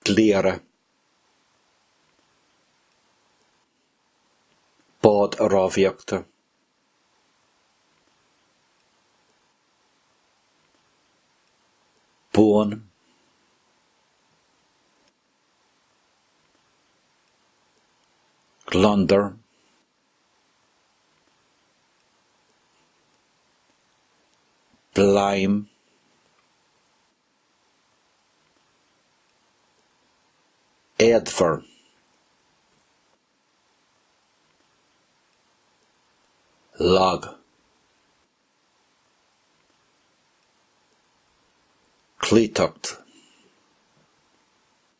Cliara. Bád rámhaíochta. Buan. Gliondar. Bladhm éadmhar lag. Cloíteacht.